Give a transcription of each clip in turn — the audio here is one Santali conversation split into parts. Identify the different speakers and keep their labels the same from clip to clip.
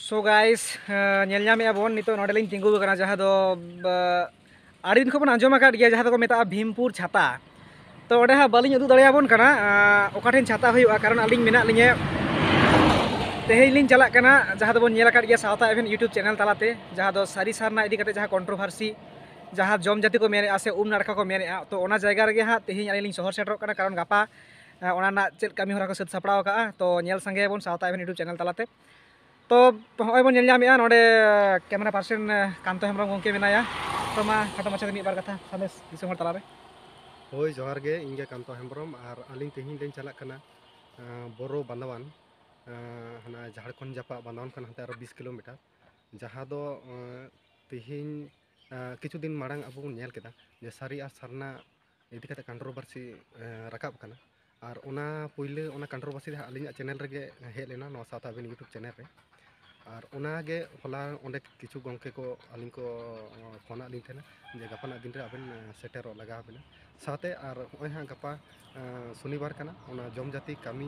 Speaker 1: ᱥᱳ ᱜᱟᱭᱥ ᱧᱮᱞ ᱧᱟᱢᱮᱜᱼᱟ ᱵᱚᱱ ᱱᱤᱛᱚᱜ ᱱᱚᱰᱮ ᱞᱤᱧ ᱛᱤᱸᱜᱩ ᱟᱠᱟᱱᱟ ᱡᱟᱦᱟᱸ ᱫᱚ ᱟᱹᱰᱤ ᱫᱤᱱ ᱠᱷᱚᱱ ᱵᱚᱱ ᱟᱸᱡᱚᱢ ᱟᱠᱟᱫ ᱜᱮᱭᱟ ᱡᱟᱦᱟᱸ ᱫᱚᱠᱚ ᱢᱮᱛᱟᱜᱼᱟ ᱵᱷᱤᱢᱯᱩᱨ ᱪᱷᱟᱛᱟ ᱛᱚ ᱚᱸᱰᱮ ᱦᱟᱸᱜ ᱵᱟᱹᱞᱤᱧ ᱩᱫᱩᱜ ᱫᱟᱲᱮᱭᱟᱵᱚᱱ ᱠᱟᱱᱟ ᱚᱠᱟ ᱴᱷᱮᱱ ᱪᱷᱟᱛᱟ ᱦᱩᱭᱩᱜᱼᱟ ᱠᱟᱨᱚᱱ ᱟᱹᱞᱤᱧ ᱢᱮᱱᱟᱜ ᱞᱤᱧᱟᱹ ᱛᱮᱦᱮᱧ ᱞᱤᱧ ᱪᱟᱞᱟᱜ ᱠᱟᱱᱟ ᱡᱟᱦᱟᱸ ᱫᱚᱵᱚᱱ ᱧᱮᱞ ᱟᱠᱟᱫ ᱜᱮᱭᱟ ᱥᱟᱶᱛᱟ ᱮᱵᱷᱮᱱ ᱤᱭᱩᱴᱩᱵᱽ ᱪᱮᱱᱮᱞ ᱛᱟᱞᱟᱛᱮ ᱡᱟᱦᱟᱸ ᱫᱚ ᱥᱟᱹᱨᱤ ᱥᱟᱨᱱᱟ ᱤᱫᱤ ᱠᱟᱛᱮ ᱡᱟᱦᱟᱸ ᱠᱚᱱᱴᱨᱳᱵᱷᱟᱨᱥᱤ ᱡᱟᱦᱟᱸ ᱡᱚᱢ ᱡᱟᱹᱛᱤ ᱠᱚ ᱢᱮᱱᱮᱜᱼᱟ ᱥᱮ ᱩᱢ ᱱᱟᱲᱠᱟ ᱠᱚ ᱢᱮᱱᱮᱜᱼᱟ ᱛᱚ ᱚᱱᱟ ᱡᱟᱭᱜᱟ ᱨᱮᱜᱮ ᱦᱟᱸᱜ ᱛᱮᱦᱮᱧ ᱟᱹᱞᱤᱧ ᱞᱤᱧ ᱥᱚᱦᱚᱨ ᱥᱮᱴᱮᱨᱚᱜ ᱠᱟᱱᱟ ᱠᱟᱨᱚᱱ ᱜᱟᱯᱟ ᱚᱱᱟ ᱨᱮᱱᱟᱜ ᱪᱮᱫ ᱠᱟᱹᱢᱤ ᱦᱚᱨᱟ ᱠᱚ ᱥᱟᱹᱛ ᱥᱟᱯᱲᱟᱣ ᱟᱠᱟᱜᱼᱟ ᱛᱚ ᱧᱮᱞ ᱥᱟᱸᱜᱮᱭᱟᱵᱚᱱ ᱥᱟᱶᱛᱟ ᱮᱵᱷᱮᱱ ᱤᱭᱩᱴᱩᱵᱽ ᱪᱮᱱᱮᱞ ᱛᱟᱞᱟᱛᱮ ᱛᱚ ᱦᱚᱸᱜᱼᱚᱭ ᱵᱚᱱ ᱧᱮᱞ ᱧᱟᱢᱮᱜᱼᱟ ᱱᱚᱰᱮ ᱠᱮᱢᱮᱨᱟ ᱯᱟᱨᱥᱮᱱ ᱠᱟᱱᱛᱚ ᱦᱮᱢᱵᱨᱚᱢ ᱜᱚᱢᱠᱮ ᱢᱮᱱᱟᱭᱟ ᱛᱚ ᱢᱟ ᱠᱷᱟᱴᱚ ᱢᱟᱪᱷᱟᱛᱮ ᱢᱤᱫ ᱵᱟᱨ ᱠᱟᱛᱷᱟ ᱥᱟᱸᱫᱮᱥ ᱫᱤᱥᱚᱢ ᱦᱚᱲ ᱛᱟᱞᱟᱨᱮ ᱦᱳᱭ ᱡᱚᱦᱟᱨ
Speaker 2: ᱜᱮ ᱤᱧ ᱜᱮ ᱠᱟᱱᱛᱚ ᱦᱮᱢᱵᱨᱚᱢ ᱟᱨ ᱟᱹᱞᱤᱧ ᱛᱮᱦᱮᱧ ᱞᱤᱧ ᱪᱟᱞᱟᱜ ᱠᱟᱱᱟ ᱵᱚᱨᱚ ᱵᱟᱸᱫᱟᱣᱟᱱ ᱦᱟᱱᱟ ᱡᱷᱟᱲᱠᱷᱚᱸᱰ ᱡᱟᱯᱟᱜ ᱵᱟᱸᱫᱟᱣᱟᱱ ᱠᱷᱚᱱ ᱦᱟᱱᱛᱮ ᱟᱨᱚ ᱵᱤᱥ ᱠᱤᱞᱳᱢᱤᱴᱟᱨ ᱡᱟᱦᱟᱸ ᱫᱚ ᱛᱮᱦᱮᱧ ᱠᱤᱪᱷᱩ ᱫᱤᱱ ᱢᱟᱲᱟᱝ ᱟᱵᱚ ᱵᱚᱱ ᱧᱮᱞ ᱠᱮᱫᱟ ᱡᱮ ᱥᱟᱹᱨᱤ ᱟᱨ ᱥᱟᱨᱱᱟ ᱤᱫᱤ ᱠᱟᱛᱮ ᱠᱟᱱᱴᱨᱳᱵᱟᱨᱥᱤ ᱨᱟᱠᱟᱵ ᱠᱟᱱᱟ ᱟᱨ ᱚᱱᱟ ᱯᱩᱭᱞᱩ ᱚᱱᱟ ᱠᱟᱱᱴᱨᱳᱵᱟᱨᱥᱤ ᱫᱚ ᱟᱹᱞᱤᱧᱟᱜ ᱪᱮᱱᱮᱞ ᱨᱮᱜᱮ ᱦᱮᱡ ᱞᱮᱱᱟ ᱱᱚᱣᱟ ᱥᱟᱶᱛᱟ ᱟᱵᱤᱱ ᱤᱭᱩᱴᱩᱵᱽ ᱪᱮᱱᱮᱞ ᱨᱮ ᱟᱨ ᱚᱱᱟᱜᱮ ᱦᱚᱞᱟ ᱚᱸᱰᱮ ᱠᱤᱪᱷᱩ ᱜᱚᱢᱠᱮ ᱠᱚ ᱟᱹᱞᱤᱧ ᱠᱚ ᱯᱷᱳᱱᱟᱫ ᱞᱤᱧ ᱛᱟᱦᱮᱱᱟ ᱡᱮ ᱜᱟᱯᱟᱱᱟᱜ ᱫᱤᱱ ᱨᱮ ᱟᱵᱮᱱ ᱥᱮᱴᱮᱨᱚᱜ ᱞᱟᱜᱟᱣ ᱵᱮᱱᱟ ᱥᱟᱶᱛᱮ ᱟᱨ ᱦᱚᱸᱜᱼᱚᱭ ᱦᱟᱸᱜ ᱜᱟᱯᱟ ᱥᱚᱱᱤᱵᱟᱨ ᱠᱟᱱᱟ ᱚᱱᱟ ᱡᱚᱢ ᱡᱟᱹᱛᱤ ᱠᱟᱹᱢᱤ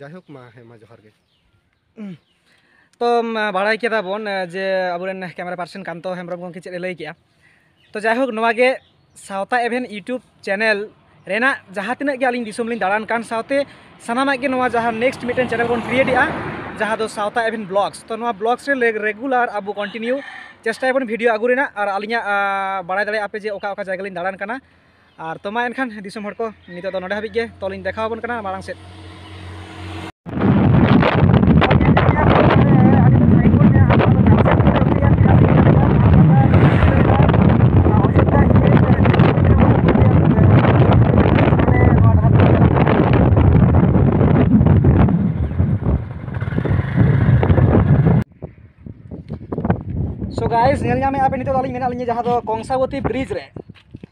Speaker 2: ᱡᱟᱭᱦᱳᱠ ᱢᱟ ᱦᱮᱸ ᱢᱟ ᱡᱚᱦᱟᱨ ᱜᱮ
Speaker 1: ᱛᱚ ᱵᱟᱲᱟᱭ ᱠᱮᱫᱟ ᱵᱚᱱ ᱡᱮ ᱟᱵᱚᱨᱮᱱ ᱠᱮᱢᱮᱨᱟ ᱯᱟᱨᱥᱚᱱ ᱠᱟᱱᱛᱚ ᱦᱮᱢᱵᱨᱚᱢ ᱜᱚᱢᱠᱮ ᱪᱮᱫ ᱮ ᱞᱟᱹᱭ ᱠᱮᱜᱼᱟ ᱛᱚ ᱡᱟᱭᱦᱳᱠ ᱱᱚᱣᱟ ᱜᱮ ᱥᱟᱶᱛᱟ ᱮᱵᱷᱮᱱ ᱤᱭᱩᱴᱩᱵᱽ ᱪᱮᱱᱮᱞ ᱨᱮᱱᱟᱜ ᱡᱟᱦᱟᱸ ᱛᱤᱱᱟᱹᱜ ᱜᱮ ᱟᱹᱞᱤᱧ ᱫᱤᱥᱚᱢ ᱞᱤᱧ ᱫᱟᱬᱟᱱ ᱠᱟᱱ ᱥᱟᱶᱛᱮ ᱥᱟᱱᱟᱢᱟᱜ ᱜᱮ ᱱᱚᱣᱟ ᱡᱟᱦᱟᱸ ᱱᱮᱠᱥᱴ ᱢᱤᱫᱴᱮᱱ ᱪᱮᱱᱮᱞ ᱵᱚᱱ ᱠᱨᱤᱭᱮᱴ ᱮᱜᱼᱟ ᱡᱟᱦᱟᱸ ᱫᱚ ᱥᱟᱶᱛᱟ ᱮᱵᱷᱮᱱ ᱵᱞᱚᱜᱥ ᱛᱚ ᱱᱚᱣᱟ ᱵᱞᱚᱜᱥ ᱨᱮ ᱨᱮᱜᱩᱞᱟᱨ ᱟᱵᱚ ᱠᱚᱱᱴᱤᱱᱤᱭᱩ ᱪᱮᱥᱴᱟᱭᱟᱵᱚᱱ ᱵᱷᱤᱰᱤᱭᱳ ᱟᱹᱜᱩ ᱨᱮᱱᱟᱜ ᱟᱨ ᱟᱹᱞᱤᱧᱟᱜ ᱵᱟᱲᱟᱭ ᱫᱟᱲᱮᱭᱟᱜᱼᱟ ᱯᱮ ᱡᱮ ᱚᱠᱟ ᱚᱠᱟ ᱡᱟᱭᱜᱟ ᱞᱤᱧ ᱫᱟᱬᱟᱱ ᱠᱟᱱᱟ ᱟᱨ ᱛᱚᱢᱟ ᱮᱱᱠᱷᱟᱱ ᱫᱤᱥᱚᱢ ᱦᱚᱲ ᱠᱚ ᱱᱤᱛᱚᱜ ᱫᱚ ᱱᱚᱰᱮ ᱦᱟᱹᱵᱤᱡ ᱜᱮ ᱛᱚᱞᱤᱧ ᱫᱮᱠᱷᱟᱣ ᱟᱵᱚᱱ ᱠᱟᱱᱟ ᱢᱟᱲᱟᱝ ᱥᱮᱫ ᱥᱚ ᱜᱟᱭᱥ ᱧᱮᱞ ᱧᱟᱢᱮᱫᱼᱟ ᱯᱮ ᱱᱤᱛᱚᱜ ᱫᱚ ᱟᱹᱞᱤᱧ ᱢᱮᱱᱟᱜ ᱞᱤᱧᱟ ᱡᱟᱦᱟᱸ ᱫᱚ ᱠᱚᱝᱥᱟᱵᱚᱛᱤ ᱵᱨᱤᱡᱽ ᱨᱮ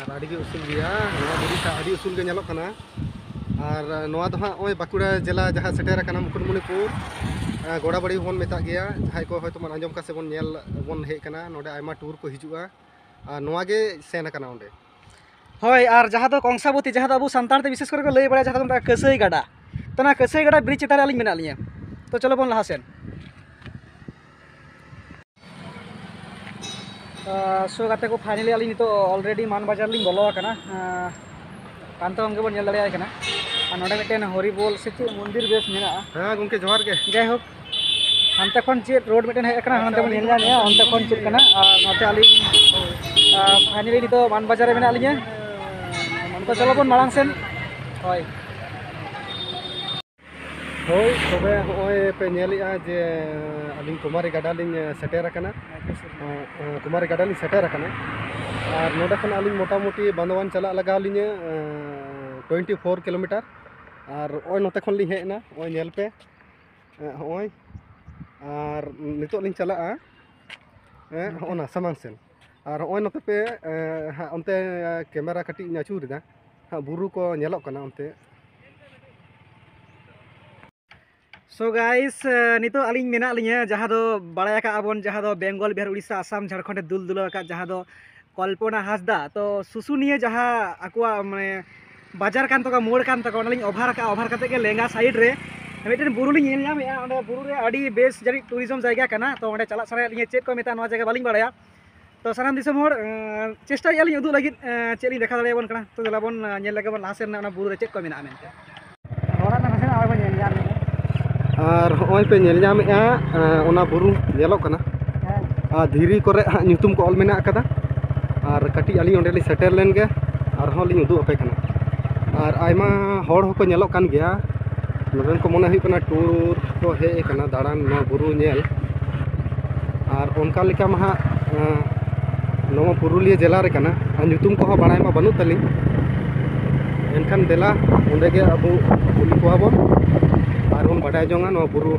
Speaker 1: ᱟᱨ
Speaker 2: ᱟᱹᱰᱤ ᱜᱮ ᱩᱥᱩᱞ ᱜᱮᱭᱟ ᱱᱚᱣᱟ ᱵᱩᱨᱩ ᱴᱟᱜ ᱟᱹᱰᱤ ᱩᱥᱩᱞ ᱜᱮ ᱧᱮᱞᱚᱜ ᱠᱟᱱᱟ ᱟᱨ ᱱᱚᱣᱟ ᱫᱚ ᱦᱟᱸᱜ ᱱᱚᱜᱼᱚᱭ ᱵᱟᱸᱠᱩᱲᱟ ᱡᱮᱞᱟ ᱡᱟᱦᱟᱸ ᱥᱮᱴᱮᱨ ᱟᱠᱟᱱᱟ ᱢᱩᱠᱩᱴᱢᱩᱱᱤᱯᱩᱨ ᱜᱚᱲᱟᱵᱟᱹᱲᱤ ᱵᱚᱱ ᱢᱮᱛᱟᱜ ᱜᱮᱭᱟ ᱡᱟᱦᱟᱸᱭ ᱠᱚ ᱦᱚᱭᱛᱳ ᱵᱚᱱ ᱟᱸᱡᱚᱢ ᱠᱟᱜ ᱥᱮ ᱵᱚᱱ ᱧᱮᱞ ᱵᱚᱱ ᱦᱮᱡ ᱠᱟᱱᱟ ᱱᱚᱰᱮ ᱟᱭᱢᱟ ᱴᱩᱨ ᱠᱚ ᱦᱤᱡᱩᱜᱼᱟ ᱟᱨ ᱱᱚᱣᱟ ᱜᱮ ᱥᱮᱱ ᱟᱠᱟᱱᱟ ᱚᱸᱰᱮ ᱦᱳᱭ
Speaker 1: ᱟᱨ ᱡᱟᱦᱟᱸ ᱫᱚ ᱠᱚᱝᱥᱟᱵᱚᱛᱤ ᱡᱟᱦᱟᱸ ᱫᱚ ᱟᱵᱚ ᱥᱟᱱᱛᱟᱲ ᱛᱮ ᱵᱤᱥᱮᱥ ᱠᱚᱨᱮ ᱠᱚ ᱞᱟᱹᱭ ᱵᱟᱲᱟᱭᱟ ᱡᱟᱦᱟᱸ ᱫᱚ ᱢᱮᱛᱟᱜᱼᱟ ᱠᱟᱹᱥᱟᱹᱭ ᱜᱟᱰᱟ ᱛᱚ ᱚᱱᱟ ᱠᱟᱹᱥᱟᱹᱭ ᱜᱟᱰᱟ ᱵᱨᱤᱡᱽ ᱪᱮᱛᱟᱱ ᱨᱮ ᱟᱹᱞᱤᱧ ᱢᱮᱱᱟᱜ ᱞᱤᱧᱟᱹ ᱛᱚ ᱪᱚᱞᱚ ᱵᱚᱱ ᱞᱟᱦᱟ ᱥᱮᱱ ᱥᱳ ᱜᱟᱛᱮ ᱠᱚ ᱯᱷᱟᱭᱱᱟᱞᱤ ᱟᱹᱞᱤᱧ ᱱᱤᱛᱚᱜ ᱚᱞᱨᱮᱰᱤ ᱢᱟᱱ ᱵᱟᱡᱟᱨ ᱞᱤᱧ ᱵᱚᱞᱚ ᱟᱠᱟᱱᱟ ᱯᱟᱱᱛᱚᱝ ᱜᱮᱵᱚᱱ ᱧᱮᱞ ᱫᱟᱲᱮᱭᱟᱭ ᱠᱟᱱᱟ ᱟᱨ ᱱᱚᱰᱮ ᱢᱤᱫᱴᱮᱱ ᱦᱚᱨᱤᱵᱚᱞ ᱥᱮ ᱪᱮᱫ ᱢᱚᱱᱫᱤᱨ ᱵᱮᱥ ᱢᱮᱱᱟᱜᱼᱟ ᱦᱮᱸ ᱜᱚᱝᱠᱮ ᱡᱚᱦᱟᱨ ᱜᱮ
Speaker 2: ᱡᱟᱭ ᱦᱳᱠ
Speaker 1: ᱦᱟᱱᱛᱮ ᱠᱷᱚᱱ ᱪᱮᱫ ᱨᱳᱰ ᱢᱤᱫᱴᱮᱱ ᱦᱮᱡ ᱟᱠᱟᱱᱟ ᱦᱟᱱᱛᱮ ᱵᱚᱱ ᱧᱮᱞ ᱧᱟᱢᱮᱜᱼᱟ ᱚᱱᱛᱮ ᱠᱷᱚᱱ ᱪᱮᱫ ᱠᱟᱱᱟ ᱟᱨ ᱱᱚᱛᱮ ᱟᱹᱞᱤᱧ ᱯᱷᱟᱭᱱᱟᱞᱤ ᱱᱤᱛᱚᱜ ᱢᱟᱱ ᱵᱟᱡᱟᱨ ᱨᱮ ᱢᱮᱱᱟᱜ ᱞᱤᱧᱟᱹ ᱛᱚ ᱪᱚᱞᱚ ᱵᱚᱱ ᱢᱟᱲᱟᱝ ᱥᱮᱱ ᱦᱳᱭ
Speaker 2: ᱦᱳᱭ ᱛᱚᱵᱮ ᱦᱚᱸᱜᱼᱚᱭ ᱯᱮ ᱧᱮᱞᱮᱜᱼᱟ ᱡᱮ ᱟᱹᱞᱤᱧ ᱠᱩᱢᱟᱨᱤ ᱜᱟᱰᱟ ᱞᱤᱧ ᱥᱮᱴᱮᱨ ᱟᱠᱟᱱᱟ ᱠᱩᱢᱟᱨᱤ ᱜᱟᱰᱟ ᱞᱤᱧ ᱥᱮᱴᱮᱨ ᱟᱠᱟᱱᱟ ᱟᱨ ᱱᱚᱰᱮ ᱠᱷᱚᱱ ᱟᱹᱞᱤᱧ ᱢᱚᱴᱟᱢᱩᱴᱤ ᱵᱟᱸᱫᱚᱣᱟᱱ ᱪᱟᱞᱟᱜ ᱞᱟᱜᱟᱣ ᱞᱤᱧᱟᱹ ᱴᱩᱭᱮᱱᱴᱤ ᱯᱷᱳᱨ ᱠᱤᱞᱳᱢᱤᱴᱟᱨ ᱟᱨ ᱱᱚᱜᱼᱚᱭ ᱱᱚᱛᱮ ᱠᱷᱚᱱ ᱞᱤᱧ ᱦᱮᱡ ᱮᱱᱟ ᱱᱚᱜᱼᱚᱭ ᱧᱮᱞ ᱯᱮ ᱦᱚᱸᱜᱼᱚᱭ ᱟᱨ ᱱᱤᱛᱚᱜ ᱞᱤᱧ ᱪᱟᱞᱟᱜᱼᱟ ᱦᱮᱸ ᱦᱚᱸᱜᱼᱚ ᱱᱟ ᱥᱟᱢᱟᱝ ᱥᱮᱱ ᱟᱨ ᱱᱚᱜᱼᱚᱭ ᱱᱚᱛᱮ ᱯᱮ ᱚᱱᱛᱮ ᱠᱮᱢᱮᱨᱟ ᱠᱟᱹᱴᱤᱡ ᱤᱧ ᱟᱹᱪᱩᱨᱮᱫᱟ ᱦᱟᱸᱜ ᱵᱩᱨᱩ ᱠᱚ ᱧᱮᱞᱚᱜ ᱠᱟᱱᱟ ᱚᱱᱛᱮ
Speaker 1: ᱥᱚ ᱜᱟᱭᱤᱥ ᱱᱤᱛᱚᱜ ᱟᱹᱞᱤᱧ ᱢᱮᱱᱟᱜ ᱞᱤᱧᱟᱹ ᱡᱟᱦᱟᱸ ᱫᱚ ᱵᱟᱲᱟᱭ ᱟᱠᱟᱫ ᱵᱚᱱ ᱡᱟᱦᱟᱸ ᱫᱚ ᱵᱮᱝᱜᱚᱞ ᱵᱤᱦᱟᱨ ᱩᱲᱤᱥᱥᱟ ᱟᱥᱟᱢ ᱡᱷᱟᱲᱠᱷᱚᱸᱰᱮ ᱫᱩᱞ ᱫᱩᱞᱟᱹᱣ ᱟᱠᱟᱫ ᱡᱟᱦᱟᱸ ᱫᱚ ᱠᱚᱞᱯᱚᱱᱟ ᱦᱟᱸᱥᱫᱟ ᱛᱚ ᱥᱩᱥᱩᱱᱤᱭᱟᱹ ᱡᱟᱦᱟᱸ ᱟᱠᱚᱣᱟᱜ ᱢᱟᱱᱮ ᱵᱟᱡᱟᱨ ᱠᱟᱱ ᱛᱟᱠᱚᱣᱟ ᱢᱳᱲ ᱠᱟᱱ ᱛᱟᱠᱚᱣᱟ ᱚᱱᱟᱞᱤᱧ ᱚᱵᱷᱟᱨ ᱟᱠᱟᱫᱼᱟ ᱚᱵᱷᱟᱨ ᱠᱟᱛᱮᱫ ᱜᱮ ᱞᱮᱸᱜᱟ ᱥᱟᱭᱤᱰ ᱨᱮ ᱢᱤᱫᱴᱮᱱ ᱵᱩᱨᱩ ᱞᱤᱧ ᱧᱮᱞ ᱧᱟᱢᱮᱫᱼᱟ ᱚᱸᱰᱮ ᱵᱩᱨᱩ ᱨᱮ ᱟᱹᱰᱤ ᱵᱮᱥ ᱡᱟᱹᱱᱤᱡ ᱴᱩᱨᱤᱡᱚᱢ ᱡᱟᱭᱜᱟ ᱠᱟᱱᱟ ᱛᱚ ᱚᱸᱰᱮ ᱪᱟᱞᱟᱜ ᱥᱟᱱᱟᱭᱮᱫ ᱞᱤᱧᱟ ᱪᱮᱫ ᱠᱚ ᱢᱮᱛᱟᱜᱼᱟ ᱱᱚᱣᱟ ᱡᱟᱭᱜᱟ ᱵᱟᱹᱞᱤᱧ ᱵᱟᱲᱟᱭᱟ ᱛᱚ ᱥᱟᱱᱟᱢ ᱫᱤᱥᱚᱢ ᱦᱚᱲ ᱪᱮᱥᱴᱟᱭᱮᱫᱼᱟ ᱞᱤᱧ ᱩᱫᱩᱜ ᱞᱟᱹᱜᱤᱫ ᱪᱮᱫ ᱞᱤᱧ ᱫᱮᱠᱷᱟᱣ ᱫᱟᱲᱮᱭᱟᱵᱚᱱ ᱠᱟᱱᱟ ᱛᱚ ᱫᱮᱞᱟ ᱵᱚᱱ ᱧᱮᱞ ᱞᱮᱜᱮ ᱵᱚᱱ ᱞᱟᱦᱟ ᱥᱮᱱ ᱨᱮᱱᱟᱜ ᱚᱱᱟ ᱵᱩᱨᱩ ᱨᱮ ᱪᱮᱫ ᱠᱚ ᱢᱮᱱᱟᱜᱼᱟ ᱢᱮᱱᱛᱮ ᱟᱨ
Speaker 2: ᱦᱚᱸᱜᱼᱚᱭ ᱯᱮ ᱧᱮᱞ ᱧᱟᱢᱮᱫᱼᱟ ᱚᱱᱟ ᱵᱩᱨᱩ ᱧᱮᱞᱚᱜ ᱠᱟᱱᱟ ᱟᱨ ᱫᱷᱤᱨᱤ ᱠᱚᱨᱮ ᱦᱟᱸᱜ ᱧᱩᱛᱩᱢ ᱠᱚ ᱚᱞ ᱢᱮᱱᱟᱜ ᱟᱠᱟᱫᱟ ᱟᱨ ᱠᱟᱹᱴᱤᱡ ᱟᱹᱞᱤᱧ ᱚᱸᱰᱮ ᱞᱤᱧ ᱥᱮᱴᱮᱨ ᱞᱮᱱ ᱜᱮ ᱟᱨᱦᱚᱸ ᱞᱤᱧ ᱩᱫᱩᱜ ᱟᱯᱮ ᱠᱟᱱᱟ ᱟᱨ ᱟᱭᱢᱟ ᱦᱚᱲ ᱦᱚᱸᱠᱚ ᱧᱮᱞᱚᱜ ᱠᱟᱱ ᱜᱮᱭᱟ ᱱᱚᱰᱮᱱ ᱠᱚ ᱢᱚᱱᱮ ᱦᱩᱭᱩᱜ ᱠᱟᱱᱟ ᱴᱩᱨ ᱠᱚ ᱦᱮᱡ ᱟᱠᱟᱱᱟ ᱫᱟᱬᱟᱱ ᱱᱚᱣᱟ ᱵᱩᱨᱩ ᱧᱮᱞ ᱟᱨ ᱚᱱᱠᱟ ᱞᱮᱠᱟ ᱢᱟ ᱦᱟᱸᱜ ᱱᱚᱣᱟ ᱯᱩᱨᱩᱞᱤᱭᱟᱹ ᱡᱮᱞᱟ ᱨᱮ ᱠᱟᱱᱟ ᱟᱨ ᱧᱩᱛᱩᱢ ᱠᱚᱦᱚᱸ ᱵᱟᱲᱟᱭ ᱢᱟ ᱵᱟᱹᱱᱩᱜ ᱛᱟᱹᱞᱤᱧ ᱮᱱᱠᱷᱟᱱ ᱫᱮᱞᱟ ᱚᱸᱰᱮ ᱜᱮ ᱟᱵᱚ ᱠᱩᱞᱤ ᱠᱚᱣᱟ ᱵᱚᱱ ᱟᱨ ᱵᱚᱱ ᱵᱟᱰᱟᱭ ᱡᱚᱝᱟ ᱱᱚᱣᱟ ᱵᱩᱨᱩ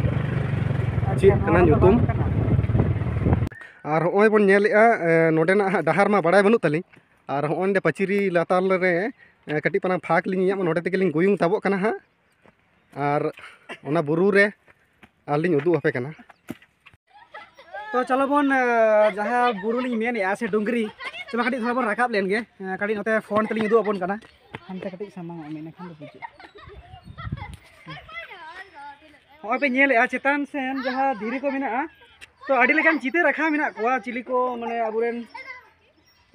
Speaker 2: ᱪᱮᱫ ᱠᱟᱱᱟ ᱧᱩᱛᱩᱢ ᱟᱨ ᱦᱚᱸᱜᱼᱚᱭ ᱵᱚᱱ ᱧᱮᱞᱮᱜᱼᱟ ᱱᱚᱸᱰᱮᱱᱟᱜ ᱦᱟᱸᱜ ᱰᱟᱦᱟᱨ ᱢᱟ ᱵᱟᱲᱟᱭ ᱵᱟᱹᱱᱩᱜ ᱛᱟᱹᱞᱤᱧ ᱟᱨ ᱦᱚᱸᱜᱼᱚᱭ ᱱᱚᱸᱰᱮ ᱯᱟᱹᱪᱨᱤ ᱞᱟᱛᱟᱨ ᱨᱮ ᱠᱟᱹᱴᱤᱡ ᱯᱟᱨᱟᱝ ᱯᱷᱟᱸᱠ ᱞᱤᱧ ᱧᱮᱞ ᱧᱟᱢᱮᱜᱼᱟ ᱱᱚᱸᱰᱮ ᱛᱮᱜᱮ ᱞᱤᱧ ᱜᱩᱭᱩᱝ ᱛᱟᱵᱚᱜ ᱠᱟᱱᱟ ᱦᱟᱸᱜ ᱟᱨ ᱚᱱᱟ ᱵᱩᱨᱩ ᱨᱮ ᱟᱨ ᱞᱤᱧ ᱩᱫᱩᱜ ᱟᱯᱮ ᱠᱟᱱᱟ
Speaker 1: ᱛᱚ ᱪᱚᱞᱚ ᱵᱚᱱ ᱡᱟᱦᱟᱸ ᱵᱩᱨᱩ ᱞᱤᱧ ᱢᱮᱱᱮᱜᱼᱟ ᱥᱮ ᱰᱩᱝᱨᱤ ᱪᱚᱞᱚ ᱠᱟᱹᱴᱤᱡ ᱛᱷᱚᱲᱟ ᱵᱚᱱ ᱨᱟᱠᱟᱵ ᱞᱮᱱ ᱜᱮ ᱠᱟᱹᱴᱤᱡ ᱱᱚᱛᱮ ᱯᱷᱳᱱ ᱛᱮᱞᱤᱧ ᱩᱫᱩᱜ ᱟᱵᱚᱱ ᱠᱟᱱᱟ ᱦᱟᱱᱛᱮ ᱠᱟᱹᱴᱤᱡ ᱥᱟᱢᱟᱝ ᱚᱜ ᱢᱮ ᱤᱱᱟᱹᱠᱷᱟᱱ ᱫᱚ ᱵᱩᱡᱩᱜᱼᱟ ᱦᱚᱸᱜᱼᱚᱭ ᱯᱮ ᱧᱮᱞᱮᱜᱼᱟ ᱪᱮᱛᱟᱱ ᱥᱮᱱ ᱡᱟᱦᱟᱸ ᱫᱷᱤᱨᱤ ᱠᱚ ᱢᱮᱱᱟᱜᱼᱟ ᱛᱚ ᱟᱹᱰᱤ ᱞᱮᱠᱟᱱ ᱪᱤᱛᱟᱹᱨ ᱟᱸᱠᱟᱣ ᱢᱮᱱᱟᱜ ᱠᱚᱣᱟ ᱪᱤᱞᱤ ᱠᱚ ᱢᱟᱱᱮ ᱟᱵᱚ ᱨᱮᱱ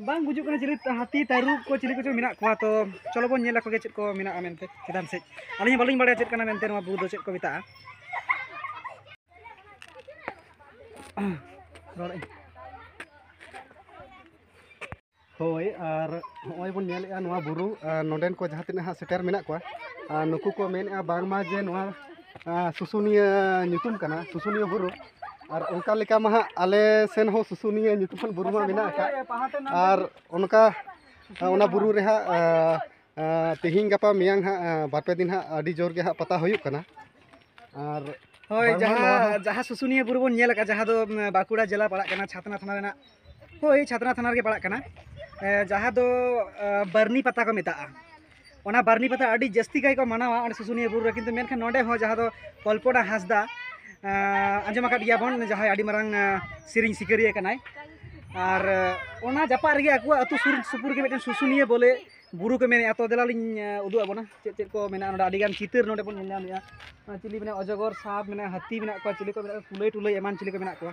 Speaker 1: ᱵᱟᱝ ᱜᱩᱡᱩᱜ ᱠᱟᱱᱟ ᱪᱤᱞᱤ ᱦᱟᱹᱛᱤ ᱛᱟᱹᱨᱩᱵ ᱠᱚ ᱪᱤᱞᱤ ᱠᱚᱪᱚᱝ ᱢᱮᱱᱟᱜ ᱠᱚᱣᱟ ᱛᱚ ᱪᱚᱞᱚ ᱵᱚᱱ ᱧᱮᱞ ᱟᱠᱚᱜᱮ ᱪᱮᱫ ᱠᱚ ᱢᱮᱱᱟᱜᱼᱟ ᱢᱮᱱᱛᱮ ᱪᱮᱛᱟᱱ ᱥᱮᱫ ᱟᱹᱞᱤᱧ ᱵᱟᱹᱞᱤᱧ ᱵᱟᱲᱟᱭᱟ ᱪᱮᱫ ᱠᱟᱱᱟ ᱢᱮᱱᱛᱮ ᱱᱚᱣᱟ ᱵᱩᱨᱩ ᱫᱚ ᱪᱮᱫ ᱠᱚ ᱢᱮᱛᱟᱜᱼᱟ ᱨᱚᱲᱮᱫ
Speaker 2: ᱦᱳᱭ ᱟᱨ ᱱᱚᱜᱼᱚᱭ ᱵᱚᱱ ᱧᱮᱞᱮᱫᱼᱟ ᱱᱚᱣᱟ ᱵᱩᱨᱩ ᱱᱚᱰᱮᱱ ᱠᱚ ᱡᱟᱦᱟᱸ ᱛᱤᱱᱟᱹᱜ ᱦᱟᱸᱜ ᱥᱮᱴᱮᱨ ᱢᱮᱱᱟᱜ ᱠᱚᱣᱟ ᱟᱨ ᱱᱩᱠᱩ ᱠᱚ ᱢᱮᱱᱮᱫᱼᱟ ᱵᱟᱝᱢᱟ ᱡᱮ ᱱᱚᱣᱟ ᱥᱩᱥᱩᱱᱤᱭᱟᱹ ᱧᱩᱛᱩᱢ ᱠᱟᱱᱟ ᱥᱩᱥᱩᱱᱤᱭᱟᱹ ᱵᱩᱨᱩ ᱟᱨ ᱚᱱᱠᱟ ᱞᱮᱠᱟ ᱢᱟ ᱦᱟᱸᱜ ᱟᱞᱮ ᱥᱮᱱ ᱦᱚᱸ ᱥᱩᱥᱩᱱᱤᱭᱟᱹ ᱧᱩᱛᱩᱢᱟᱱ ᱵᱩᱨᱩ ᱢᱟ ᱢᱮᱱᱟᱜ ᱟᱠᱟᱫ ᱟᱨ ᱚᱱᱠᱟ ᱚᱱᱟ ᱵᱩᱨᱩ ᱨᱮ ᱦᱟᱸᱜ ᱛᱮᱦᱮᱧ ᱜᱟᱯᱟ ᱢᱮᱭᱟᱝ ᱦᱟᱸᱜ ᱵᱟᱨᱯᱮ ᱫᱤᱱ ᱦᱟᱸᱜ ᱟᱹᱰᱤ ᱡᱳᱨ ᱜᱮ ᱦᱟᱸᱜ ᱯᱟᱛᱟ ᱦᱩᱭᱩᱜ ᱠᱟᱱᱟ ᱟᱨ ᱦᱳᱭ
Speaker 1: ᱡᱟᱦᱟᱸ ᱡᱟᱦᱟᱸ ᱥᱩᱥᱩᱱᱤᱭᱟᱹ ᱵᱩᱨᱩ ᱵᱚᱱ ᱧᱮᱞ ᱟᱠᱟᱫ ᱡᱟᱦᱟᱸ ᱫᱚ ᱵᱟᱸᱠᱩᱲᱟ ᱡᱮᱞᱟ ᱯᱟᱲᱟᱜ ᱠᱟᱱᱟ ᱪᱷᱟᱛᱱᱟ ᱛᱷᱟᱱᱟ ᱨᱮᱱᱟᱜ ᱦᱳᱭ ᱪᱷᱟᱛᱱᱟ ᱛᱷᱟᱱᱟ ᱨᱮᱜᱮ ᱯᱟᱲᱟᱜ ᱠᱟᱱᱟ ᱡᱟᱦᱟᱸ ᱫᱚ ᱵᱟᱹᱨᱱᱤ ᱯᱟᱛᱟ ᱠᱚ ᱢᱮᱛᱟᱜᱼᱟ ᱚᱱᱟ ᱵᱟᱹᱨᱱᱤ ᱯᱟᱛᱟ ᱟᱹᱰᱤ ᱡᱟᱹᱥᱛᱤ ᱠᱟᱭ ᱠᱚ ᱢᱟᱱᱟᱣᱟ ᱚᱸᱰᱮ ᱥᱩᱥᱩᱱᱤᱭᱟᱹ ᱵᱩᱨᱩ ᱨᱮ ᱠᱤᱱᱛᱩ ᱢᱮᱱᱠᱷᱟᱱ ᱱᱚᱸᱰᱮ ᱦᱚᱸ ᱡᱟᱦᱟᱸ ᱫᱚ ᱠᱚᱞᱯᱚᱱᱟ ᱦᱟᱸᱥᱫᱟ ᱟᱸᱡᱚᱢ ᱟᱠᱟᱫ ᱜᱮᱭᱟ ᱵᱚᱱ ᱡᱟᱦᱟᱸᱭ ᱟᱹᱰᱤ ᱢᱟᱨᱟᱝ ᱥᱮᱨᱮᱧ ᱥᱤᱠᱟᱹᱨᱤᱭᱟᱹ ᱠᱟᱱᱟᱭ ᱟᱨ ᱚᱱᱟ ᱡᱟᱯᱟᱜ ᱨᱮᱜᱮ ᱟᱠᱚᱣᱟᱜ ᱟᱹᱛᱩ ᱥᱩᱨ ᱥᱩᱯᱩᱨ ᱜᱮ ᱢᱤᱫᱴᱮᱱ ᱥᱩᱥᱩᱱᱤᱭᱟᱹ ᱵᱚᱞᱮ ᱵᱩᱨᱩ ᱠᱚ ᱢᱮᱱᱮᱫᱼᱟ ᱛᱚ ᱫᱮᱞᱟᱞᱤᱧ ᱩᱫᱩᱜ ᱟᱵᱚᱱᱟ ᱪᱮᱫ ᱪᱮᱫ ᱠᱚ ᱢᱮᱱᱟᱜᱼᱟ ᱱᱚᱸᱰᱮ ᱟᱹᱰᱤᱜᱟᱱ ᱪᱤᱛᱟᱹᱨ ᱱᱚᱸᱰᱮ ᱵᱚᱱ ᱧᱮᱞ ᱧᱟᱢᱮᱫᱼᱟ ᱪᱤᱞᱤ ᱢᱮᱱᱟᱜᱼᱟ ᱚᱡᱚᱜᱚᱨ ᱥᱟᱯ ᱢᱮᱱᱟᱜᱼᱟ ᱦᱟᱹᱛᱤ ᱢᱮᱱᱟᱜ ᱠᱚᱣᱟ ᱪᱤᱞᱤ ᱠᱚ ᱢᱮᱱᱟᱜ ᱠᱚᱣᱟ ᱠᱩᱞᱟᱹᱭ ᱴᱩᱞᱟᱹᱭ ᱮᱢᱟᱱ ᱪᱤᱞᱤ ᱠᱚ ᱢᱮᱱᱟᱜ ᱠᱚᱣᱟ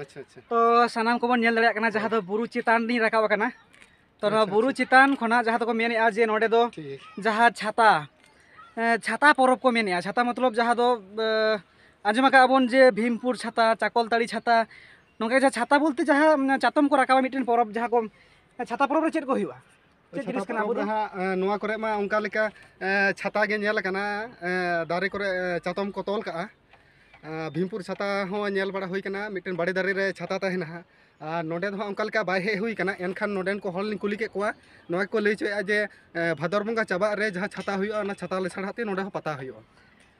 Speaker 2: ᱟᱪᱪᱷᱟ ᱟᱪᱪᱷᱟ ᱛᱚ ᱥᱟᱱᱟᱢ ᱠᱚᱵᱚᱱ
Speaker 1: ᱧᱮᱞ ᱫᱟᱲᱮᱭᱟᱜ ᱠᱟᱱᱟ ᱡᱟᱦᱟᱸ ᱫᱚ ᱵᱩᱨᱩ ᱪᱮᱛᱟᱱ ᱞᱤᱧ ᱨᱟᱠᱟᱵ ᱟᱠᱟᱱᱟ ᱛᱚ ᱱᱚᱣᱟ ᱟᱪᱪᱷᱟ, ᱵᱩᱨᱩ ᱟᱪᱪᱷᱟ᱾ ᱪᱮᱛᱟᱱ ᱠᱷᱚᱱᱟᱜ ᱡᱟᱦᱟᱸ ᱫᱚᱠᱚ ᱢᱮᱱᱮᱫᱼᱟ ᱡᱮ ᱱᱚᱸᱰᱮ ᱫᱚ ᱴᱷᱤᱠ ᱡᱟᱦᱟᱸ ᱪᱷᱟᱛᱟ ᱮ, ᱪᱷᱟᱛᱟ ᱯᱚᱨᱚᱵᱽ ᱠᱚ ᱢᱮᱱᱮᱫᱼᱟ ᱪᱷᱟᱛᱟ ᱢᱚᱛᱞᱚᱵ ᱡᱟᱦᱟᱸ ᱫᱚ ᱮ, ᱟᱸᱡᱚᱢ ᱟᱠᱟᱫ ᱵᱚᱱ ᱡᱮ ᱵᱷᱤᱢᱯᱩᱨ ᱪᱷᱟᱛᱟ ᱪᱟᱠᱚᱞᱛᱟᱹᱲᱤ ᱪᱷᱟᱛᱟ ᱱᱚᱝᱠᱟ ᱡᱟᱦᱟᱸ ᱪᱷᱟᱛᱟ ᱵᱚᱞᱛᱮ ᱡᱟᱦᱟᱸ ᱪᱟᱛᱚᱢ ᱠᱚ ᱨᱟᱠᱟᱵᱟ ᱢᱤᱫᱴᱮᱱ ᱯᱚᱨᱚᱵᱽ ᱡᱟᱦᱟᱸ ᱠᱚ ᱪᱷᱟᱛᱟ ᱯᱚᱨᱚᱵᱽ ᱨᱮ ᱪᱮᱫ ᱠᱚ ᱦᱩᱭᱩᱜᱼᱟ ᱪᱮᱫ ᱪᱷᱟᱛᱟ ᱡᱤᱱᱤᱥ ᱠᱟᱱᱟ ᱯᱚᱨᱚᱵᱽ ᱟᱵᱚ ᱫᱚ? ᱨᱮ ᱦᱟᱸᱜ ᱮᱸ, ᱱᱚᱣᱟ ᱠᱚᱨᱮ ᱢᱟ ᱚᱱᱠᱟ
Speaker 2: ᱞᱮᱠᱟ ᱮᱸ, ᱪᱷᱟᱛᱟ ᱜᱮ ᱧᱮᱞ ᱟᱠᱟᱱᱟ ᱮᱸ, ᱫᱟᱨᱮ ᱠᱚᱨᱮ ᱮᱸ, ᱪᱟᱛᱚᱢ ᱠᱚ ᱛᱚᱞ ᱠᱟᱜᱼᱟ ᱮᱸ, ᱵᱷᱤᱢᱯᱩᱨ ᱪᱷᱟᱛᱟ ᱦᱚᱸ ᱧᱮᱞ ᱵᱟᱲᱟ ᱦᱩᱭ ᱠᱟᱱᱟ ᱢᱤᱫᱴᱮᱱ ᱵᱟᱲᱮ ᱫᱟᱨᱮ ᱨᱮ ᱪᱷᱟᱛᱟ ᱛᱟᱦᱮᱱᱟ ᱦᱟᱸᱜ ᱟᱨ ᱱᱚᱸᱰᱮ ᱫᱚ ᱦᱟᱸᱜ ᱚᱱᱠᱟ ᱞᱮᱠᱟ ᱵᱟᱭ ᱦᱮᱡ ᱦᱩᱭ ᱠᱟᱱᱟ ᱮᱱᱠᱷᱟᱱ ᱱᱚᱸᱰᱮᱱ ᱠᱚ ᱦᱚᱲ ᱞᱤᱧ ᱠᱩᱞᱤ ᱠᱮᱫ ᱠᱚᱣᱟ ᱱᱚᱣᱟ ᱜᱮᱠᱚ ᱞᱟᱹᱭ ᱦᱚᱪᱚᱭᱮᱫᱼᱟ ᱡᱮ ᱮᱸ, ᱵᱷᱟᱫᱚᱨ ᱵᱚᱸᱜᱟ ᱪᱟᱵᱟᱜ ᱨᱮ ᱡᱟᱦᱟᱸ ᱪᱷᱟᱛᱟ ᱦᱩᱭᱩᱜᱼᱟ ᱚᱱᱟ ᱪᱷᱟᱛᱟ ᱞᱮᱥᱟᱲᱦᱮᱫ ᱛᱮ ᱱᱚᱸᱰᱮ ᱦᱚᱸ ᱯᱟᱛᱟ ᱦᱩᱭᱩᱜᱼᱟ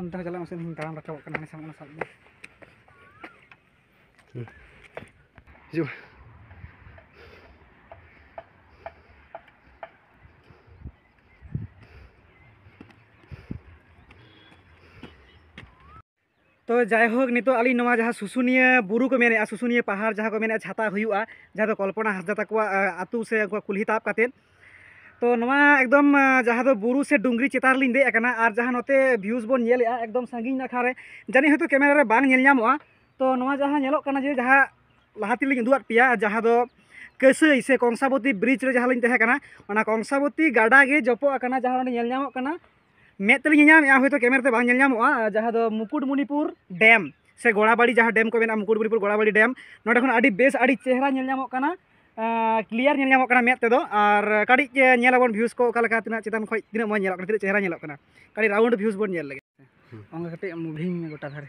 Speaker 1: ᱚᱱᱛᱮ ᱦᱚᱸ ᱪᱟᱞᱟᱜ ᱢᱮᱥᱮ ᱤᱧ ᱛᱟᱲᱟᱢ ᱨᱟᱠᱟᱵᱚᱜ ᱠᱟᱱᱟ ᱦᱟᱱᱮ ᱥᱟᱢᱟᱝ ᱥᱟᱵ ᱢᱮ
Speaker 2: ᱦᱤᱡᱩᱜ
Speaker 1: ᱛᱚ ᱡᱟᱭᱦᱳᱠ ᱱᱤᱛᱚᱜ ᱟᱹᱞᱤᱧ ᱱᱚᱣᱟ ᱡᱟᱦᱟᱸ ᱥᱩᱥᱩᱱᱤᱭᱟᱹ ᱵᱩᱨᱩ ᱠᱚ ᱢᱮᱱᱮᱫᱼᱟ ᱥᱩᱥᱩᱱᱤᱭᱟᱹ ᱯᱟᱦᱟᱲ ᱡᱟᱦᱟᱸ ᱠᱚ ᱢᱮᱱᱮᱫᱼᱟ ᱪᱷᱟᱛᱟ ᱦᱩᱭᱩᱜᱼᱟ ᱡᱟᱦᱟᱸ ᱫᱚ ᱠᱚᱞᱯᱚᱱᱟ ᱦᱟᱸᱥᱫᱟ ᱛᱟᱠᱚᱣᱟᱜ ᱟᱹᱛᱩ ᱥᱮ ᱩᱱᱠᱩᱣᱟᱜ ᱠᱩᱞᱦᱤ ᱛᱟᱵ ᱠᱟᱛᱮᱫ ᱛᱚ ᱱᱚᱣᱟ ᱮᱠᱫᱚᱢ ᱡᱟᱦᱟᱸ ᱫᱚ ᱵᱩᱨᱩ ᱥᱮ ᱰᱩᱝᱨᱤ ᱪᱮᱛᱟᱱ ᱨᱮᱞᱤᱧ ᱫᱮᱡ ᱟᱠᱟᱱᱟ ᱟᱨ ᱡᱟᱦᱟᱸ ᱱᱚᱛᱮ ᱵᱷᱤᱭᱩᱡᱽ ᱵᱚᱱ ᱧᱮᱞᱮᱫᱼᱟ ᱮᱠᱫᱚᱢ ᱥᱟᱺᱜᱤᱧ ᱱᱟᱠᱷᱟ ᱨᱮ ᱡᱟᱹᱱᱤᱡ ᱦᱚᱭᱛᱳ ᱠᱮᱢᱮᱨᱟ ᱨᱮ ᱵᱟᱝ ᱧᱮᱞ ᱧᱟᱢᱚᱜᱼᱟ ᱛᱚ ᱱᱚᱣᱟ ᱡᱟᱦᱟᱸ ᱧᱮᱞᱚᱜ ᱠᱟᱱᱟ ᱡᱮ ᱡᱟᱦᱟᱸ ᱞᱟᱦᱟ ᱛᱮᱞᱤᱧ ᱩᱫᱩᱜ ᱟᱫ ᱯᱮᱭᱟ ᱡᱟᱦᱟᱸ ᱫᱚ ᱠᱟᱹᱥᱟᱹᱭ ᱥᱮ ᱠᱚᱝᱥᱟᱵᱚᱛᱤ ᱵᱨᱤᱡᱽ ᱨᱮ ᱡᱟᱦᱟᱸ ᱞᱤᱧ ᱛᱟᱦᱮᱸ ᱠᱟᱱᱟ ᱚᱱᱟ ᱠᱚᱝᱥᱟᱵᱚᱛᱤ ᱜᱟᱰᱟ ᱜᱮ ᱡᱚᱯᱚᱜ ᱟᱠᱟᱱᱟ ᱡᱟᱦᱟᱸ ᱚᱸᱰᱮ ᱧᱮᱞ ᱧᱟᱢᱚᱜ ᱠᱟᱱᱟ ᱢᱮᱫ ᱛᱮᱞᱤᱧ ᱧᱮᱧᱟᱢᱮᱜᱼᱟ ᱦᱚᱭᱛᱳ ᱠᱮᱢᱮᱨᱟ ᱛᱮ ᱵᱟᱝ ᱧᱮᱞ ᱧᱟᱢᱚᱜᱼᱟ ᱡᱟᱦᱟᱸ ᱫᱚ ᱢᱩᱠᱩᱴᱢᱩᱱᱤᱯᱩᱨ ᱰᱮᱢ ᱥᱮ ᱜᱚᱲᱟᱵᱟᱲᱤ ᱡᱟᱦᱟᱸ ᱰᱮᱢ ᱠᱚ ᱢᱮᱱᱟᱜᱼᱟ ᱢᱩᱠᱩᱴᱢᱩᱱᱤᱯᱩᱨ ᱜᱚᱲᱟᱵᱟᱲᱤ ᱰᱮᱢ ᱱᱚᱸᱰᱮ ᱠᱷᱚᱱ ᱟᱹᱰᱤ ᱵᱮᱥ ᱟᱹᱰᱤ ᱪᱮᱦᱨᱟ ᱧᱮᱞ ᱧᱟᱢᱚᱜ ᱠᱟᱱᱟ ᱠᱞᱤᱭᱟᱨ ᱧᱮᱞ ᱧᱟᱢᱚᱜ ᱠᱟᱱᱟ ᱢᱮᱫ ᱛᱮᱫᱚ ᱟᱨ ᱠᱟᱹᱴᱤᱡ ᱧᱮᱞ ᱟᱵᱚᱱ ᱵᱷᱤᱭᱩᱥ ᱠᱚ ᱚᱠᱟ ᱞᱮᱠᱟ ᱛᱤᱱᱟᱹᱜ ᱪᱮᱛᱟᱱ ᱠᱷᱚᱱ ᱛᱤᱱᱟᱹᱜ ᱢᱚᱡᱽ ᱧᱮᱞᱚᱜ ᱠᱟᱱᱟ ᱛᱤᱱᱟᱹᱜ ᱪᱮᱦᱨᱟ ᱧᱮᱞᱚᱜ ᱠᱟᱱᱟ ᱠᱟᱹᱴᱤᱡ ᱨᱟᱣᱩᱱᱰ ᱵᱷᱤᱭᱩᱥ ᱵᱚᱱ ᱧᱮᱞ ᱞᱮᱜᱮ ᱚᱱᱠᱟ ᱠᱟᱹᱴᱤᱡ ᱢᱩᱵᱷᱤᱝ ᱢᱮ ᱜᱚᱴᱟ ᱫᱷᱟᱨᱮ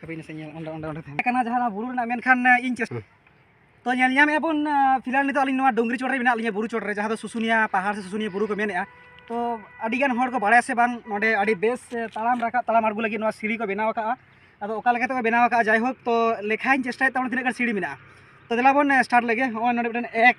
Speaker 1: ᱦᱟᱯᱮ ᱥᱮ ᱧᱮᱞ ᱚᱸᱰᱮ ᱚᱸᱰᱮ ᱚᱸᱰᱮ ᱛᱟᱦᱮᱸ ᱠᱟᱱᱟ ᱡᱟᱦᱟᱸ ᱵᱩᱨᱩ ᱨᱮᱱᱟᱜ ᱢᱮᱱᱠᱷᱟᱱ ᱤᱧ ᱪᱮᱥᱴᱟ ᱛᱚ ᱧᱮᱞ ᱧᱟᱢᱮᱜᱼᱟ ᱵᱚᱱ ᱯᱷᱤᱞᱦᱟᱞ ᱱᱤᱛᱚᱜ ᱟᱹᱞᱤᱧ ᱱᱚᱣᱟ ᱰᱩᱝᱨᱤ ᱪᱚᱴ ᱨᱮ ᱢᱮᱱᱟᱜ ᱞᱤᱧᱟ ᱵᱩᱨᱩ ᱪᱚᱴ ᱨᱮ ᱡᱟᱦᱟᱸ ᱫᱚ ᱥᱩᱥᱩᱱᱤᱭᱟ ᱯᱟᱦᱟᱲ ᱥᱮ ᱥᱩᱥᱩᱱᱤᱭᱟ ᱵᱩᱨᱩ ᱠᱚ ᱢᱮᱱᱮᱜᱼᱟ ᱛᱚ ᱟᱹᱰᱤᱜᱟᱱ ᱦᱚᱲ ᱠᱚ ᱵᱟᱲᱟᱭᱟ ᱥᱮ ᱵᱟᱝ ᱱᱚᱰᱮ ᱟᱹᱰᱤ ᱵᱮᱥ ᱛᱟᱲᱟᱢ ᱨᱟᱠᱟᱵ ᱛᱟᱲᱟᱢ ᱟᱬᱜᱚ ᱞᱟᱹᱜᱤᱫ ᱱᱚᱣᱟ ᱥᱤᱲᱤ ᱠᱚ ᱵᱮᱱᱟᱣ ᱟᱠᱟᱫᱼᱟ ᱟᱫᱚ ᱚᱠᱟ ᱞᱮᱠᱟ ᱛᱮᱠᱚ ᱵᱮᱱᱟᱣ ᱟᱠᱟᱫᱼᱟ ᱡᱟᱭᱦᱳᱠ ᱛᱚ ᱞᱮᱠᱷᱟᱧ ᱪᱮᱥᱴᱟᱭᱮᱫ ᱛᱟᱵᱚᱱᱟ ᱛᱤᱱᱟᱹᱜ ᱜᱟᱱ ᱥᱤᱲᱤ ᱢᱮᱱᱟᱜᱼᱟ ᱛᱚ ᱫᱮᱞᱟ ᱵᱚᱱ ᱥᱴᱟᱨᱴ ᱞᱮᱜᱮ ᱱᱚᱜᱼᱚᱭ ᱱᱚᱰᱮ ᱢᱤᱫᱴᱮᱱ ᱮᱠ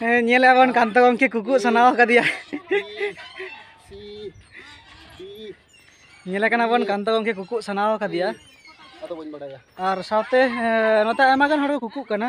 Speaker 1: ᱦᱮᱸ ᱧᱮᱞ ᱟᱵᱚᱱ ᱠᱟᱱᱛᱚ ᱜᱚᱢᱠᱮ ᱠᱩᱠᱩ ᱥᱟᱱᱟᱣ ᱟᱠᱟᱫᱮᱭᱟ ᱧᱮᱞ ᱠᱟᱱᱟ ᱵᱚᱱ ᱠᱟᱱᱛᱚ ᱜᱚᱢᱠᱮ ᱠᱩᱠᱩ ᱥᱟᱱᱟᱣ ᱟᱠᱟᱫᱮᱭᱟ ᱟᱨ ᱥᱟᱶᱛᱮ ᱱᱚᱛᱮ ᱟᱭᱢᱟ ᱜᱟᱱ ᱦᱚᱲ ᱠᱚ ᱠᱩᱠᱩᱜ ᱠᱟᱱᱟ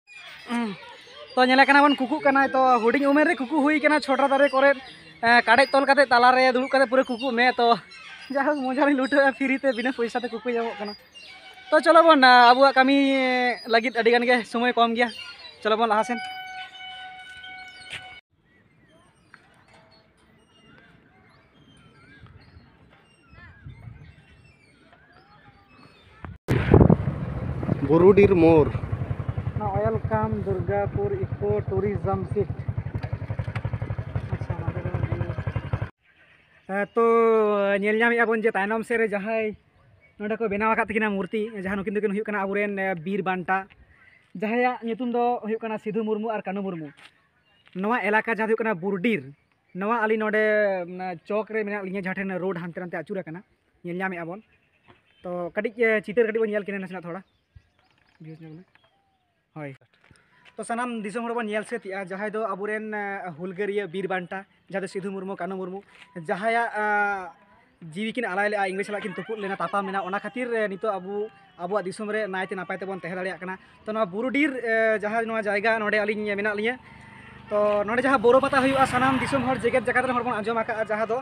Speaker 1: ᱛᱚ ᱧᱮᱞᱮ ᱠᱟᱱᱟ ᱵᱚᱱ ᱠᱩᱠᱩᱜ ᱠᱟᱱᱟᱭ ᱛᱚ ᱦᱩᱰᱤᱧ ᱩᱢᱮᱨ ᱨᱮ ᱠᱩᱠᱩ ᱦᱩᱭ ᱠᱟᱱᱟ ᱪᱷᱚᱴᱟ ᱫᱟᱨᱮ ᱠᱚᱨᱮ ᱠᱟᱰᱮᱡ ᱛᱚᱞ ᱠᱟᱛᱮ ᱛᱟᱞᱟ ᱨᱮ ᱫᱩᱲᱩᱵ ᱠᱟᱛᱮ ᱯᱩᱨᱟᱹ ᱠᱩᱠᱩᱜ ᱢᱮ ᱛᱚ ᱡᱟᱦᱳᱠ ᱢᱚᱡᱟ ᱞᱤᱧ ᱞᱩᱴᱟᱹᱣᱮᱜᱼᱟ ᱯᱷᱤᱨᱤ ᱛᱮ ᱵᱤᱱᱟᱹ ᱯᱚᱭᱥᱟ ᱛᱮ ᱠᱩᱠᱩ ᱧᱟᱢᱚᱜ ᱠᱟᱱᱟ ᱛᱚ ᱪᱚᱞᱚ ᱵᱚᱱ ᱟᱵᱚᱣᱟᱜ ᱠᱟᱹᱢᱤ ᱞᱟᱹᱜᱤᱫ ᱟᱹᱰᱤ ᱜᱟᱱ ᱜᱮ ᱥᱚᱢᱚᱭ ᱠᱚᱢ ᱜᱮᱭᱟ ᱪᱚᱞᱚ ᱵᱚᱱ ᱞᱟᱦᱟ ᱥᱮᱱ
Speaker 2: ᱵᱩᱨᱩᱰᱤᱨ ᱢᱳᱨ ᱱᱚᱣᱟ ᱚᱭᱮᱞᱠᱟᱢ
Speaker 1: ᱫᱩᱨᱜᱟᱯᱩᱨ ᱤᱠᱳ ᱴᱩᱨᱤᱡᱚᱢ ᱥᱤᱴ ᱛᱚ ᱧᱮᱞ ᱧᱟᱢᱮᱫᱼᱟ ᱵᱚᱱ ᱡᱮ ᱛᱟᱭᱱᱚᱢ ᱥᱮᱫ ᱨᱮ ᱡᱟᱦᱟᱸᱭ ᱱᱚᱰᱮ ᱠᱚ ᱵᱮᱱᱟᱣ ᱟᱠᱟᱫ ᱛᱟᱹᱠᱤᱱᱟ ᱢᱩᱨᱛᱤ ᱡᱟᱦᱟᱸ ᱱᱩᱠᱤᱱ ᱫᱚᱠᱤᱱ ᱦᱩᱭᱩᱜ ᱠᱟᱱᱟ ᱟᱵᱚᱨᱮᱱ ᱵᱤᱨ ᱵᱟᱱᱴᱟ ᱡᱟᱦᱟᱸᱭᱟᱜ ᱧᱩᱛᱩᱢ ᱫᱚ ᱦᱩᱭᱩᱜ ᱠᱟᱱᱟ ᱥᱤᱫᱷᱩ ᱢᱩᱨᱢᱩ ᱟᱨ ᱠᱟᱹᱱᱩ ᱢᱩᱨᱢᱩ ᱱᱚᱣᱟ ᱮᱞᱟᱠᱟ ᱡᱟᱦᱟᱸ ᱫᱚ ᱦᱩᱭᱩᱜ ᱠᱟᱱᱟ ᱵᱩᱨᱰᱤᱨ ᱱᱚᱣᱟ ᱟᱹᱞᱤᱧ ᱱᱚᱰᱮ ᱪᱚᱠ ᱨᱮ ᱢᱮᱱᱟᱜ ᱞᱤᱧᱟ ᱡᱟᱦᱟᱸ ᱴᱷᱮᱱ ᱨᱳᱰ ᱦᱟᱱᱛᱮ ᱱᱟᱛᱮ ᱟᱹᱪᱩᱨ ᱟᱠᱟᱱᱟ ᱧᱮᱞ ᱧᱟᱢᱮᱜᱼᱟ ᱵᱚᱱ ᱛᱚ ᱠᱟᱹᱴᱤᱡ ᱪᱤᱛᱟᱹᱨ ᱠᱟᱹᱴᱤᱡ ᱵᱚᱱ ᱧᱮᱞ ᱠᱤᱱᱟ ᱱᱟᱥᱮᱱᱟᱜ ᱛᱷᱚᱲᱟ ᱵᱷᱤᱭᱩᱡᱽ ᱧᱮᱞ ᱢᱮ ᱦᱳᱭ ᱛᱚ ᱥᱟᱱᱟᱢ ᱫᱤᱥᱚᱢ ᱦᱚᱲ ᱵᱚᱱ ᱧᱮᱞ ᱥᱟᱹᱛᱮᱜᱼᱟ ᱡᱟᱦᱟᱸᱭ ᱫᱚ ᱟᱵᱚᱨᱮᱱ ᱦᱩᱞᱜᱟᱹᱨᱤᱭᱟᱹ ᱵᱤᱨ ᱵᱟᱱᱴᱟ ᱡᱟᱦᱟᱸ ᱫᱚ ᱥᱤᱫᱷᱩ ᱢᱩᱨᱢᱩ ᱠᱟᱹᱱᱩ ᱢᱩᱨᱢᱩ ᱡᱟᱦᱟᱸᱭᱟᱜ ᱡᱤᱣᱤ ᱠᱤᱱ ᱟᱞᱟᱭ ᱞᱮᱫᱼᱟ ᱤᱝᱨᱮᱡᱽ ᱥᱟᱞᱟᱜ ᱠᱤᱱ ᱛᱩᱯᱩᱫ ᱞᱮᱱᱟ ᱛᱟᱯᱟᱢ ᱞᱮᱱᱟ ᱚᱱᱟ ᱠᱷᱟᱹᱛᱤᱨ ᱱᱤᱛᱚᱜ ᱟᱵᱚ ᱟᱵᱚᱣᱟᱜ ᱫᱤᱥᱚᱢ ᱨᱮ ᱱᱟᱭᱛᱮ ᱱᱟᱯᱟᱭ ᱛᱮᱵᱚᱱ ᱛᱟᱦᱮᱸ ᱫᱟᱲᱮᱭᱟᱜ ᱠᱟᱱᱟ ᱛᱚ ᱱᱚᱣᱟ ᱵᱩᱨᱩᱰᱤᱨ ᱡᱟᱦᱟᱸ ᱱᱚᱣᱟ ᱡᱟᱭᱜᱟ ᱱᱚᱰᱮ ᱟᱹᱞᱤᱧ ᱢᱮᱱᱟᱜ ᱞᱤᱧᱟᱹ ᱛᱚ ᱱᱚᱰᱮ ᱡᱟᱦᱟᱸ ᱵᱳᱨᱳ ᱯᱟᱛᱟ ᱦᱩᱭᱩᱜᱼᱟ ᱥᱟᱱᱟᱢ ᱫᱤᱥᱚᱢ ᱦᱚᱲ ᱡᱮᱜᱮᱛ ᱡᱟᱠᱟᱛ ᱨᱮᱱ ᱦᱚᱲ ᱵᱚᱱ ᱟᱸᱡᱚᱢ ᱟᱠᱟᱫᱼᱟ ᱡᱟᱦᱟᱸ ᱫᱚ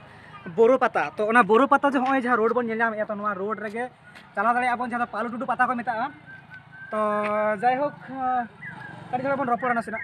Speaker 1: ᱵᱳᱨᱳ ᱯᱟᱛᱟ ᱛᱚ ᱚᱱᱟ ᱵᱳᱨᱳ ᱯᱟᱛᱟ ᱡᱮ ᱱᱚᱜᱼᱚᱭ ᱡᱟᱦᱟᱸ ᱨᱳᱰ ᱵᱚᱱ ᱧᱮᱞ ᱧᱟᱢᱮᱫᱼᱟ ᱛᱚ ᱱᱚᱣᱟ ᱨᱳᱰ ᱨᱮᱜᱮ ᱪᱟᱞᱟᱣ ᱫᱟᱲᱮᱭᱟᱜᱼᱟ ᱵᱚᱱ ᱡᱟᱦᱟᱸ ᱫᱚ ᱯᱟᱞᱩ ᱴᱩᱰᱩ ᱯᱟᱛᱟ ᱠᱚ ᱢᱮᱛᱟᱜᱼᱟ ᱛᱚ ᱡᱟᱭᱦᱳᱠ ᱠᱟᱹᱴᱤᱡ ᱫᱷᱟᱨᱟ ᱵᱚᱱ ᱨᱚᱯᱚᱲᱟ ᱱᱟᱥᱮᱱᱟᱜ